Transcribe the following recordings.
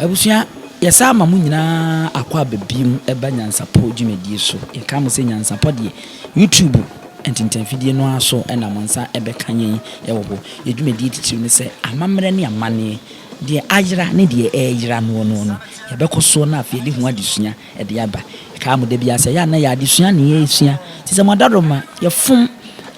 Abusua, yɛsan ama mo nyinaa akɔ aba biom ɛba Nyansapɔ dwumadie so. Yɛka mo sɛ Nyansapɔ deɛ, YouTube ntintanfidie no ara so na mo nsa bɛka yɛn wɔ hɔ. Yɛn dwumadie titiriw ne sɛ, amammerɛ ne amanneɛ, deɛ ayera ne deɛ ɛreyera noɔ no, yɛbɛkɔ soɔ na afei yɛde ho adesua. de aba. Ɛkaa mo da biara sɛ ɛyɛ a na ɛyɛ adesua na yɛresua. Te sɛ mo adaworoma, yɛfom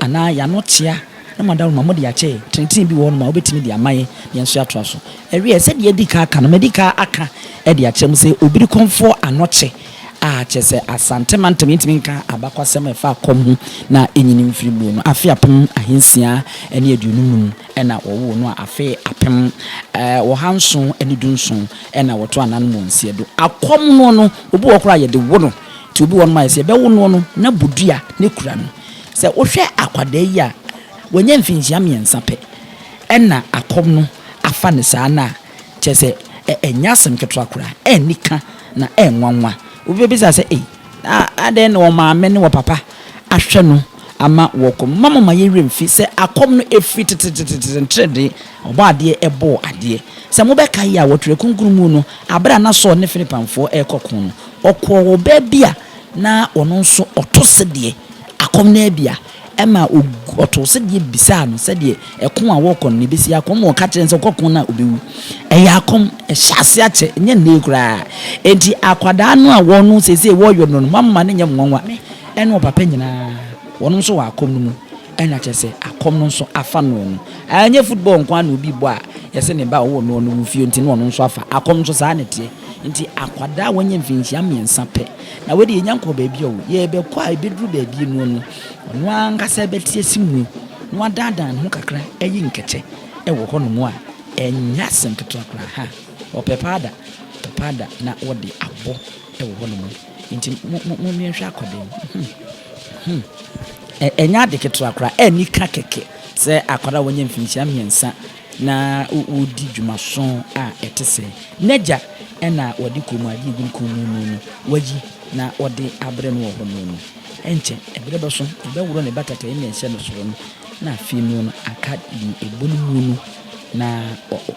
anaa yɛn ano tea na mo adaworoma mode akyɛ yɛn. Trenetene bi wɔ hɔnom a wobɛtumi de ama yɛn na yɛn nso yɛatoa so. Ɛweɛ, sɛdeɛ adi kan aka no, madi kan aka de akyerɛ mo sɛ obiri kɔmfoɔ ano kyɛ a kyerɛ sɛ Asante mantam yɛntumi nka abakwasɛm a ɛfa kɔm ho na ɛnyini mfiri buo no afe apem ahansia ne aduonum num na wɔwoo no a afe apem ɔha nson ne du nson Ɛna wɔto anan mu nseɛ do. Akɔm noɔ no, obi wɔ hɔ koraa a yɛde wo no. Nti obi wɔ hɔ nom a yɛsɛ yɛbɛwo noɔ no na bodua na kura no. Sɛ wohwɛ akwadaa yi a, wanya mfinhyia mmiɛnsa pɛ ɛna akɔm no afa no saa no a, kyerɛ sɛ ɛnyɛ asem ketewa koraa, ɛnni ka na ɛnwanwa. Obi bɛbisa sɛ ei, Na adɛn na ɔmaame ne ɔpapa ahwɛ no ama wɔkɔ mu? Momma momma yɛn werɛ mfi sɛ akɔm no firi tetetetete nteredee a Ɔbɔadeɛ bɔɔ adeɛ. Sɛ mobɛkae a, wɔ Twerɛ Kronkron mu no, berɛ a na Saul ne Filipanfoɔ rekɔ ko no, ɔkɔɔ ɔbaa bi a na ɔno nso ɔto sedeɛ, akɔm no abia, Ɛma ogu ɔtoo sedeɛ bisaa no sɛdeɛ ɛko a wɔrekɔ no na ɛbɛsi akɔ ma ɔka kyerɛɛ no sɛ ɔkɔko no a ɔbɛwu. Ɛyɛ akɔm, ɛhyɛ aseɛ akyɛ, ɛnyɛ nnɛ yi koraa. Enti akwadaa no a wɔn no seesei wɔreyɔ no no moamma no nyɛ nwanwa, ɛne ɔpapa nyinaa wɔnom nso wɔ akɔm no mu. Ɛna kyerɛ sɛ akɔm no nso afa noɔ no. Ɛnyɛ football nko ara na obi bɔ a yɛse ne ba a ɔwɔ noɔ no wu fie nti na ɔno nso afa. Akɔm nso saa na ɛteɛ. Enti akwadaa a wanya mfinhyia mmiɛnsa pɛ Na wei de yɛnya nkɔɔ baabi a o, yɛrebɛkɔ a ɛbɛduru baabi noɔ no, ɔno ara ankasa bɛte asi mu na wadaadaa ne ho kakra ayi nkɛtɛ wɔ hɔ nom a, ɛnyɛ asɛm ketewa koraa. Ha, ɔpɛ paada, ɔpɛ paada na ɔde abɔ wɔ hɔ nom. Nti mo, mo, mo, yɛnhwɛ akɔ dɛn? Hum, hum. Ɛ, ɛnyɛ ade ketewa koraa, anika kɛkɛ sɛ akwadaa a wɔanya mfinhyia mmiɛnsa na wɔredi dwumaso a ɛte sɛɛ. N'agya na wɔde kɔnmuadeɛ a ɛgu ne kɔn mu no no wayi na ɔde abrɛ no wɔ hɔ no no. Ɛnkyɛ, ɛberɛ bɛso, ɔbɛworɔ ne batatɛeɛ na ɛhyɛ no soro no, na afei no no aka deɛ ɛbɔ ne mu no, na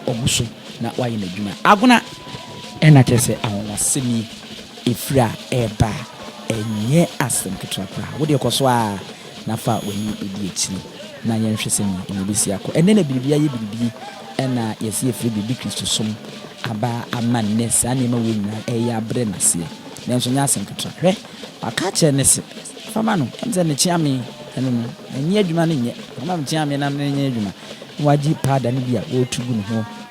wagu so na wayɛ n'adwuma. Agona! Ɛna kyerɛ sɛ anwanwasɛm yi, ɛfiri a ɛreba a, ɛnyɛ asɛm ketewa koraa. Wo deɛ kɔ so ara. na fa w'ani di akyiri na yɛnhwɛ sɛnea ɛno bɛsi akɔ. Ɛnnɛ na biribi ayɛ biribi na yɛse yɛfiri biribi Kristosom aba ama nnɛ saa nneɛma wei nyinaa reyɛ abrɛ no aseɛ. Nanso ɛnyɛ asɛm ketewa. Hwɛ, waka akyerɛ no se, Fa ma no, ɛne sɛ mekyea me, ɛno no, ɛnyɛ adwuma no nyɛ, fa ma mekyea me na menyɛ adwuma. Na wagye powder no bi a wɔretu gu ne ho.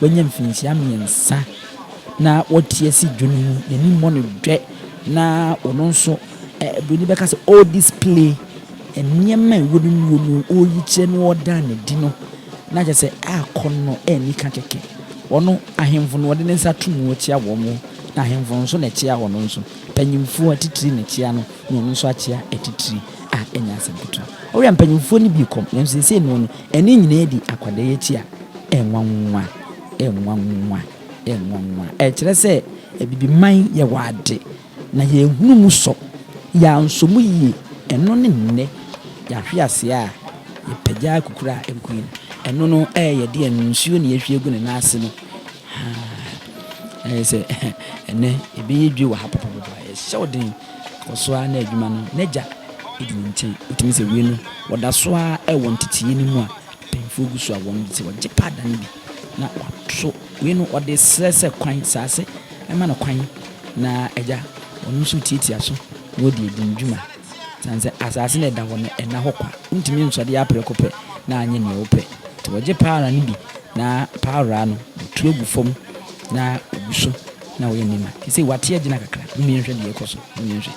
wanya mfirinhyia mmiɛnsa na wate asi dwo no mu, n'ani mmɔ no dwɛ, na ɔno nso, Buroni bɛka sɛ ɔredisplay nneɛma a ɛwɔ ne mu no, ɔreyi kyerɛ no, ɔreda no adi no, na kyerɛ sɛ akɔn no anni ka kɛkɛ. Ɔno, ahemfo no, ɔde ne nsa to mu ɔkyea wɔn, na ahemfo no nso na ɛkyea ɔno nso. Mpanyimfoɔ atitire na ɛkyea no, na ɔno nso akyea atitire. a ɛnyɛ asɛm ketewa. Ɔwɛn mpanyimfo no bi kɔm, nanso seesei no no ɛno nyinaa di akwadɛyɛ akyi a ɛnwanwa, ɛnwanwa, ɛnwanwa. Ɛkyerɛ sɛ Abibiman yɛwɔ ade, na yɛanhunu mu sɔ, yɛansɔ mu yie. Ɛno ne nnɛ yɛahwe ase a yɛpagya akukuru a ɛgu yi no. Ɛno no ɛyɛ yɛ deɛ no, nsuo na yɛahwie agu ne nan ase no. Haa, ayɛ sɛ ɛnnɛ yɛbɛyɛ dwe wɔ ha pɔpɔpɔpɔ a, ɛhyɛ wo den. Kɔ so ara na adwuma no n'agya di ne nkyɛn. Wotumi sɛ wei no wɔda so ara wɔ nteteyɛ no mu a mpanyimfoɔ gu so a wɔn de sɛ wɔgye paada no bi na wɔato wei no wɔde srɛ sɛ kwan saa sɛ ɛma no kwan na agya wɔn nso retiatia so na wɔde adi ne dwuma sane sɛ asase na ɛda hɔ no ɛnna hɔ kwa wontumi nsɔde aprɛko pɛ na anyɛ nea wɔpɛ nti wɔgye paara no bi na paara no wɔtu agu fam na wɔgu so na ɔyɛ nneɛma te sɛ wate agyina kakra. Momma yɛnhwɛ deɛ ɛrekɔ so. Momma yɛnhwɛ.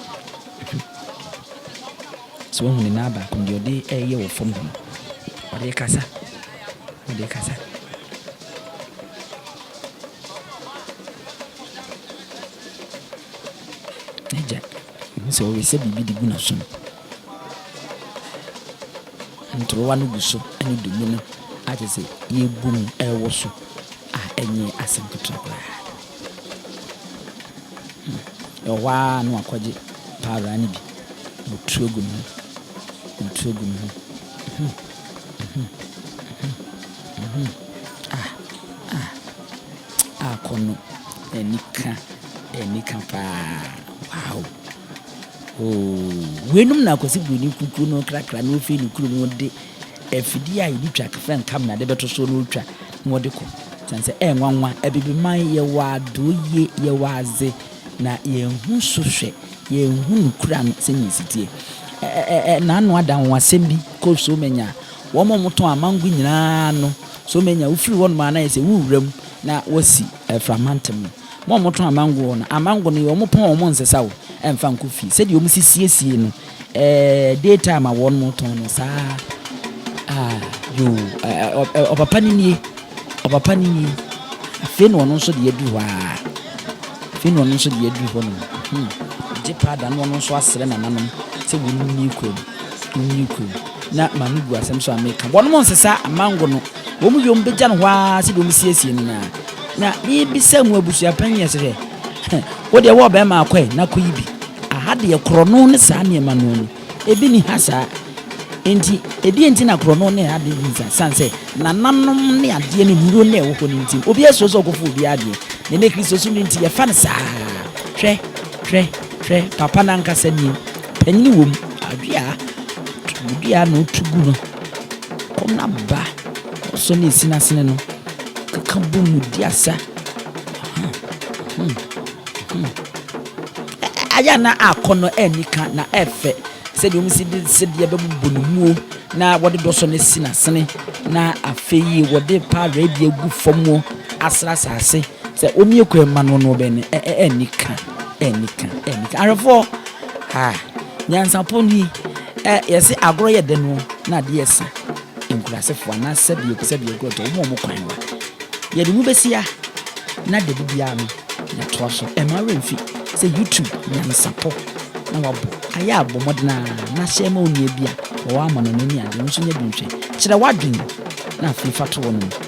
So wahu ne nan baako no, deɛ ɔde reyɛ wɔ fam hɔ no? Ɔde rekasa. Ɔde rekasa. N'agya, mehu sɛ ɔresa biribi de gu n'asom. Ntorowa no gu so ne dommum no a kyerɛ sɛ yɛabu mu rewoso a ɛnyɛ asɛm ketewa koraa. Ɛwɔ hɔ ara na wakɔgye paawraa no bi na ɔtu agu ne ho, na ɔtu agu ne ho. Mhm, mhm, mhm, mhm. Ah, ah, ah, kɔnɔ, anika, anika paa, wow. Oo, weinom na Akwasi Buroni kukuo no krakra na ɔfiri ne kurom no de afidie a yɛde twa kefrɛ nkam na de bɛto so na ɔtwa na ɔde kɔ. Sane sɛ ɛyɛ nwanwa, Abibiman yɛwɔ adoo yie, yɛwɔ adze na yɛnhu so hwɛ, yɛnhu no kura no sɛnea ɛsi teɛ. Ɛ-ɛ-ɛ-ɛ Naano ada anwanwasɛm bi kɔ Somanya a, wɔn a wɔtɔn amango nyinaa no, Somanya wofiri hɔnom a na ayɛ sɛ wo wura mu na wɔsi Aframantem no. Wɔn a wɔtɔn amangoɔ no, amango no yɛ wɔn pɔn a wɔn nsesa o, ɛnfa nkɔ fie. Sɛdeɛ wɔn si siesie no, eh, day time a wɔn tɔn no, saa ara. Ah, yoo, eh, ɔpapa no nie, ɔpapa no nie. Afei na ɔno nso de adu hɔ ara. Afei na ɔno nso de adu hɔ nom. Hmm, gye paa da na ɔno nso asrɛ nananom sɛ wɔn nie kurom, wɔn nie kurom. Na maame bu asɛm so a meka, wɔn nsesa amango no. Wɔn yom bɛgya no hɔ ara sɛdeɛ wɔsiesie no no ara. Na mebisa mo abusuapanin yɛ sɛ, hwɛ, wo deɛ wowɔ bɛrima akɔ ɛ, na kɔyi bi. Aha deɛ korɔno ne saa nneɛma no ani. Ebi nni ha saa. Enti, ɛdeɛn nti na korɔno ne adeɛ nni saa? Ɛsiane sɛ nananom ne adeɛ ne nnuro na ɛwɔ hɔ no nti, obiara suro sɛ ɔkɔfa obiara adeɛ. Na ɛnnɛ Kristosom no nti, yɛfa no saa ara. Hwɛ, hwɛ, hwɛ, papa no ankasa nie. Panin wom, dua, dua na ɔtu gu no. Wɔn aba a wɔsɔ ne nsinasene no keka bɔ mu di asa. Ayɛ a na akɔnnɔ anni ka na ɛfɛ sɛdeɛ wɔn si de sedeɛ bɛbobɔ ne muo na wɔde dɔsɔ ne sinasene na afei wɔde paa rɛdi agu fam wɔ asra asase sɛ wɔmmue kwan mma no no bɛn anni ka anni ka anni ka ahwɛfoɔ ha. Nyansapɔ no yi ɛ yɛse agorɔ yɛ dɛ no na ade yɛ sa nkurasefoɔ anaa sɛdeɛ ɔpɛ sɛ deɛ agorɔ tɔ wɔn a wɔn kwan wa yɛde mu bɛsia na da bibiara no yɛtoa so ɛma werɛ mfi sɛ YouTube nyansapɔ na wabɔ ayɛ abɔ mmɔden a na hyɛ ma onua bi a wɔwɔ amɔnɔ no ani adeɛ nso nya bi nhwɛ kyerɛ w'adwene na afei fa to wɔn mu.